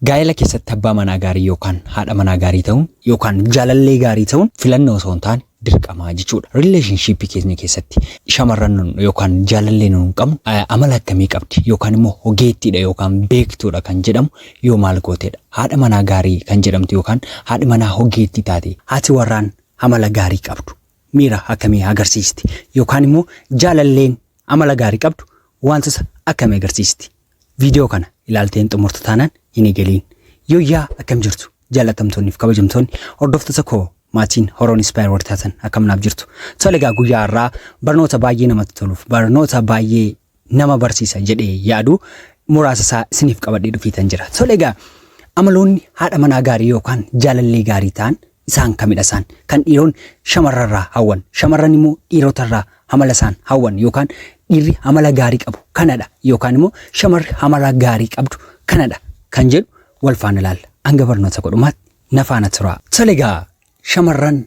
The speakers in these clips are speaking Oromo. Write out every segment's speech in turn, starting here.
Gaa'ela keessatti abbaa manaa gaarii yookaan haadha manaa gaarii ta'uun yookaan jaalallee gaarii ta'uun filannoo osoo hin taane dirqama jechuudha. Relationship keenya keessatti shamarran nun yookaan jaalallee nun qabnu eh, amala akkamii qabdi yookaan immoo ogeettiidha yookaan beektuudha kan jedhamu yoo maal gooteedha. Haadha manaa gaarii kan jedhamtu yookaan haadhi manaa ogeettii taate haati warraan amala gaarii qabdu miira akkamii agarsiisti yookaan immoo jaalalleen amala gaarii qabdu wantoota akkamii agarsiisti Viidiyoo kana ilaalteen xumurta taanaan hin eegaliin. Yooyyaa akkam jirtu jaallatamtoonniif kabajamtoonni hordoftoota koo maatiin horoon ispaayer warri taatan akkam naaf jirtu. Tole egaa guyyaa har'aa barnoota baay'ee namatti toluuf barnoota baay'ee nama barsiisa jedhee yaadu muraasa isaa isiniif qabadhee dhufiitan jira. Tole egaa amaloonni haadha manaa gaarii yookaan jaalallee gaarii ta'an isaan kamidha isaan kan dhiiroonni shamarrarraa hawwan shamarran immoo dhiirotarraa hamala isaan hawwan yookaan dhiirri hamala gaarii qabu kanadha yookaan immoo shamarri hamala gaarii qabdu kanadha kan jedhu wal faana ilaalla hanga barnoota godhumaatti na faana turaa. Salegaa shamarran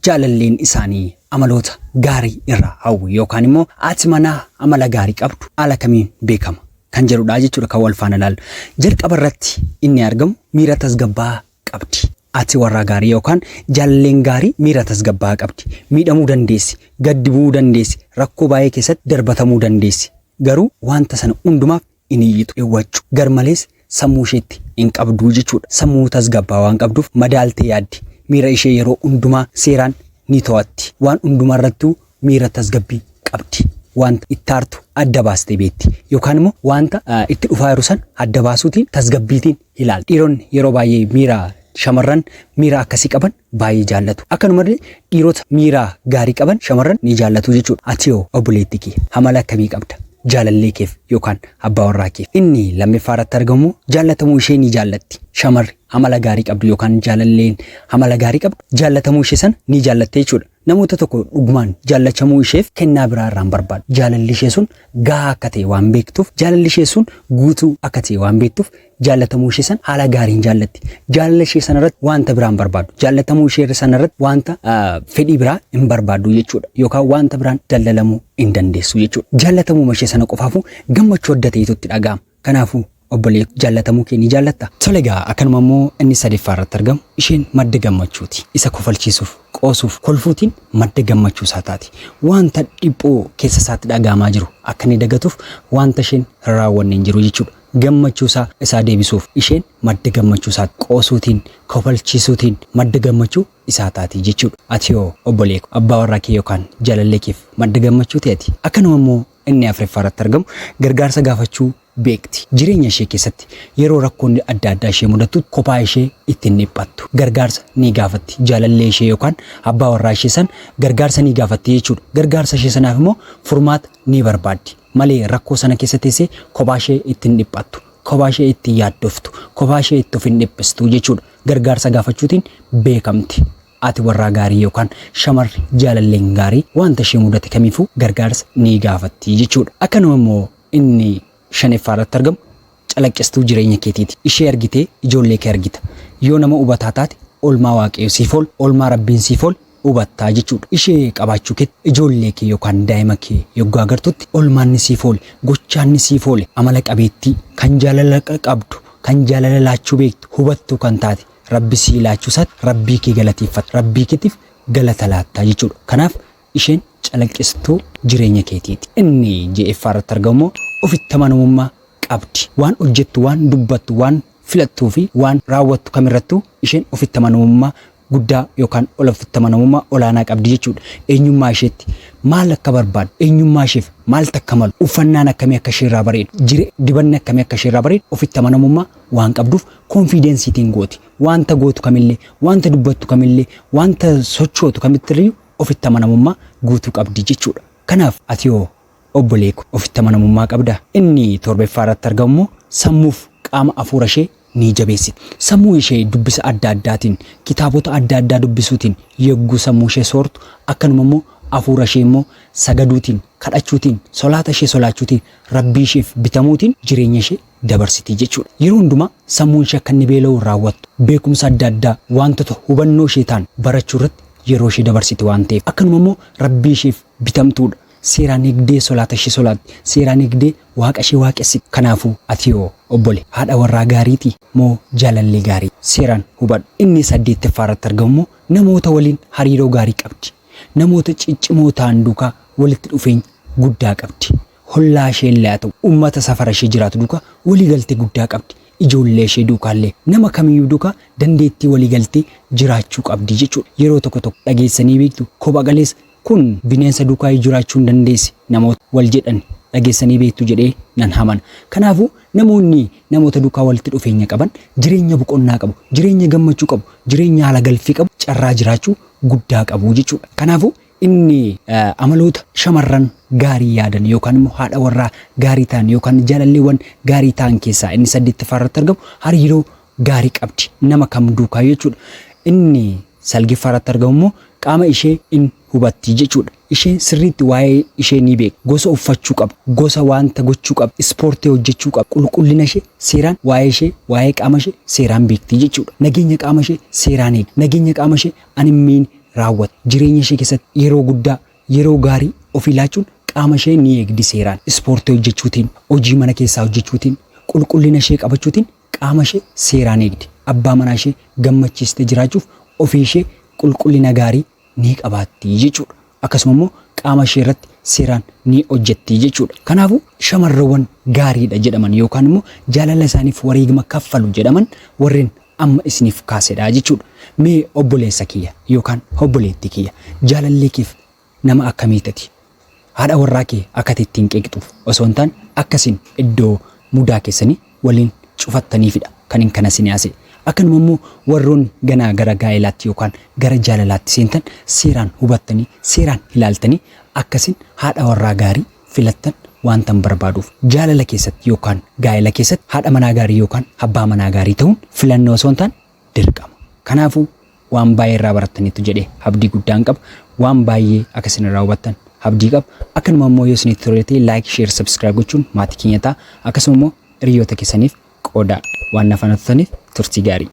jaalalleen isaanii amaloota gaarii irraa hawwu yookaan immoo haati manaa amala gaarii qabdu haala kamiin beekama kan jedhudha jechuudha kan wal faana ilaallu. Jalqaba irratti inni argamu miira tasgabbaa'aa qabdi. Ati warraa gaarii yookaan jaalleen gaarii miira tasgabbaa'aa qabdi. Miidhamuu dandeessi, gaddi bu'uu dandeessi, rakkoo baay'ee keessatti darbatamuu dandeessi. Garuu wanta sana hundumaaf hin iyyitu, hin waccu. Garmalees sammuu isheetti hin qabdu jechuudha. Sammuu tasgabbaa'aa waan qabduuf madaaltee yaaddi. Miira ishee yeroo hundumaa seeraan ni to'atti. Waan hundumaa irrattuu miira tasgabbii qabdi. Wanta itti aartu adda baastee beekti. Yookaan immoo wanta itti dhufaa jiru sana adda baasuutiin tasgabbiitiin ilaali. Dhiironni yeroo baay'ee miira shamarran miira akkasii qaban baay'ee jaallatu. Akkanumallee dhiirota miira gaarii qaban shamarran ni jaallatu jechuudha. Ati hoo obboleettii kee amala akkamii qabda? Jaalallee keef yookaan abbaa warraa keef inni lammaffaa irratti argamu jaallatamuu ishee ni jaallatti. Shamarri amala gaarii qabdu yookaan jaalalleen amala gaarii qabdu jaallatamuu ishee sana ni jaallatte jechuudha. Namoota tokko dhugumaan jaallachamuu isheef kennaa biraa irraa hin barbaaddu. Jaalalli ishee sun gahaa akka ta'e waan beektuuf, jaalalli ishee sun guutuu akka ta'e waan beektuuf jaallatamuu ishee sana haala gaariin jaallatti. Jaalala ishee sana irratti wanta biraa hin barbaaddu. Jaallatamuu ishee sana irratti wanta ah, fedhii biraa hin barbaaddu jechuudha. Yookaan wanta biraan daldalamuu hin dandeessu jechuudha. Jaallatamuu ishee sana qofaafuu gammachuu adda ta'etu itti dhaga'ama. Kanaafuu, obbolee ko, jaallatamuu kee ni jaallattaa? Tole egaa, akkanuma immoo inni sadeeffaa irratti argamu, isheen madda gammachuu ti. Isa kofalchiisuuf, qoosuuf, kolfuutiin madda gammachuu isaa taati. Wanta dhiphoo keessa isaatti dhaga'amaa jiru akka inni dagatuuf wanta isheen hin raawwanne hin jiru jechuu dha. Gammachuu isaa isaa deebisuuf isheen madda gammachuu isaa ti. Qoosuutiin, kofalchiisuutiin madda gammachuu isaa taati jechuu dha. Ati hoo obbolee ko, abbaa warraa kee yookaan jaalallee keef madda gammachuu ti ati? Akkanuma immoo Inni afraffaa irratti argamu gargaarsa gaafachuu beekti. Jireenya ishee keessatti yeroo rakkoonni adda addaa ishee mudattutti kophaa ishee itti hin dhiphattu. Gargaarsa ni gaafatti. Jaalallee ishee yookaan abbaa warraa ishee san gargaarsa ni gaafatti jechuudha. Gargaarsa ishee sanaaf immoo furmaata ni barbaaddi. Malee rakkoo sana keessa teessee kophaa ishee itti hin dhiphattu. Kophaa ishee itti hin yaaddoftu. Kophaa ishee itti of hin dhiphistu jechuudha. Gargaarsa gaafachuutiin beekamti. Haati warraa gaarii yookaan shamarri jaalalleen gaarii wanta ishee mudate kamiifuu gargaarsa ni gaafatti jechuudha. Akkanuma immoo inni shaneffaa irratti argamu calaqqistuu jireenya keetiiti. Ishee argitee ijoollee kee argita. Yoo nama hubataa taate olmaa Waaqayyo siif ol, olmaa Rabbiin siif ol hubatta jechuudha. Ishee qabaachuu keetti ijoollee kee yookaan daa'ima kee yoggaa agartutti olmaanni siif oole, gochaanni siif oole, amala qabeettii, kan jaalala qabdu, kan jaalala laachuu beektu, hubattuu kan taate, Rabbi sii laachuu isaatti Rabbii kee galateeffatta. Rabbii keetiif galata laatta jechuudha. Kanaaf isheen calaqqistuu jireenya keetiiti. Inni ja'effaa irratti argamu immoo ofitti amanamummaa qabdi. Waan hojjettu, waan dubbattu, waan filattuu fi waan raawwattu kamirrattuu isheen ofitti amanamummaa guddaa yookaan ol ofitti amanamummaa olaanaa qabdi jechuudha. Eenyummaa isheetti maal akka barbaaddu, eenyummaa isheef maaltu akka malu, uffannaan akkamii akka isheerraa bareedu, jire, dibanni akkamii akka isheerraa bareedu ofitti amanamummaa waan qabduuf confidence itiin gooti. Wanta gootu kamillee, wanta dubbattu kamillee, wanta sochootu kamittirriyu ofitti amanamummaa guutuu qabdi jechuudha. Kanaaf ati hoo obbolee ko ofitti amanamummaa qabdaa? Inni torbeffaa irratti argamu immoo sammuuf qaama afuura ishee ni jabeessiti. Sammuu ishee dubbisa adda addaatiin, kitaabota adda addaa dubbisuutiin yogguu sammuu ishee soortu, akkanuma immoo afuura ishee immoo sagaduutiin, kadhachuutiin, solaata ishee solaachuutiin, Rabbii isheef bitamuutiin jireenya ishee dabarsiti jechuudha. Yeroo hundumaa sammuun ishee akka inni beela'uun raawwattu, beekumsa adda addaa waantota hubannoo ishee ta'an barachuu irratti yeroo ishee dabarsiti waan ta'eef. Akkanuma immoo Rabbii isheef bitamtuudha. Seeraan eegdee solaata ishee solaatti. Seeraan eegdee Waaqa ishee waaqessiti. Kanaafuu ati hoo obbole haadha warraa gaariiti moo jaalallee gaarii? Seeraan hubadhu. Inni saddeettaffaa irratti argamu immoo namoota waliin hariiroo gaarii qabdi. Namoota ciccimoo ta'an duukaa walitti dhufeenya guddaa qabdi. Hollaa isheellee haa ta'u ummata safara ishee jiraatu duuka walii galtee guddaa qabdi. Ijoollee ishee duukaallee nama kamiyyuu duuka dandeettii walii galtee jiraachuu qabdi jechuudha. Yeroo tokko tokko dhageessanii beektu kopha galeessa kun bineensa duukaayyuu jiraachuu hin dandeessi namoota wal jedhan dhageessanii beektu jedhee nan hamana. Kanaafuu namoonni namoota duukaa walitti dhufeenya qaban jireenya boqonnaa qabu, jireenya gammachuu qabu, jireenya haala galfii qabu, carraa jiraachuu guddaa qabu jechuudha. Kanaafuu Inni amaloota shamarran gaarii yaadan yookaan immoo haadha warraa gaarii ta'an yookaan jaalalleewwan gaarii ta'an keessaa inni saddeettaffaa irratti argamu hariiroo gaarii qabdi nama kam duukaa jechuudha. Inni salgeeffaa irratti argamu immoo qaama ishee in hubatti jechuudha. Isheen sirriitti waa'ee ishee ni beeka. Gosa uffachuu qaba. Gosa wanta gochuu qaba. Ispoortii hojjechuu qaba. Qulqullina ishee seeraan waa'ee ishee waa'ee qaama ishee seeraan beekti jechuudha. Nageenya qaama ishee seeraan eegdi. Nageenya qaama ishee Animmeen raawwata. Jireenya ishee keessatti yeroo guddaa, yeroo gaarii ofii laachuun qaama ishee ni eegdi seeraan. Ispoortii hojjechuutiin, hojii mana keessaa hojjechuutiin, qulqullina ishee qabachuutiin qaama ishee seeraan eegdi. Abbaa manaa ishee gammachiistee jiraachuuf ofii ishee qulqullina gaarii ni qabaatti jechuudha. Akkasuma immoo qaama ishee irratti seeraan ni hojjetti jechuudha. Kanaafuu shamarrewwan gaariidha jedhaman yookaan immoo jaalala isaaniif wareegama kaffalu jedhaman warreen amma isiniif kaasedha jechuudha. Mee obboleessa kiyya yookaan obboleettii kiyya jaalallee keef nama akkamii tati? Haadha warraa kee akka ati ittiin qeeqxuuf osoo hin taane akka isin iddoo mudaa keessanii waliin cufattaniifidha kanin kana isinii haasa'e. Akkanuma immoo warroonni ganaa gara gaa'elaatti yookaan gara jaalalaatti seentan seeraan hubattanii, seeraan ilaaltanii akka isin haadha warraa gaarii filattan waantan barbaaduuf. Jaalala keessatti yookaan gaa'ela keessatti haadha manaa gaarii yookaan abbaa manaa gaarii ta'uun filannoo osoo hin taane dirqama. Kanaafuu, waan baay'ee irraa barattaniittu jedhee abdii guddaan qaba. Waan baay'ee akka isin irraa hubattan abdii qaba. Akkanuma immoo yoo isinitti tole ta'e like, share, subscribe gochuun maatii keenya ta'a. Akkasuma immoo hiriyoota keessaniif qoodaa. Waan na faana turtaniif turtii gaarii.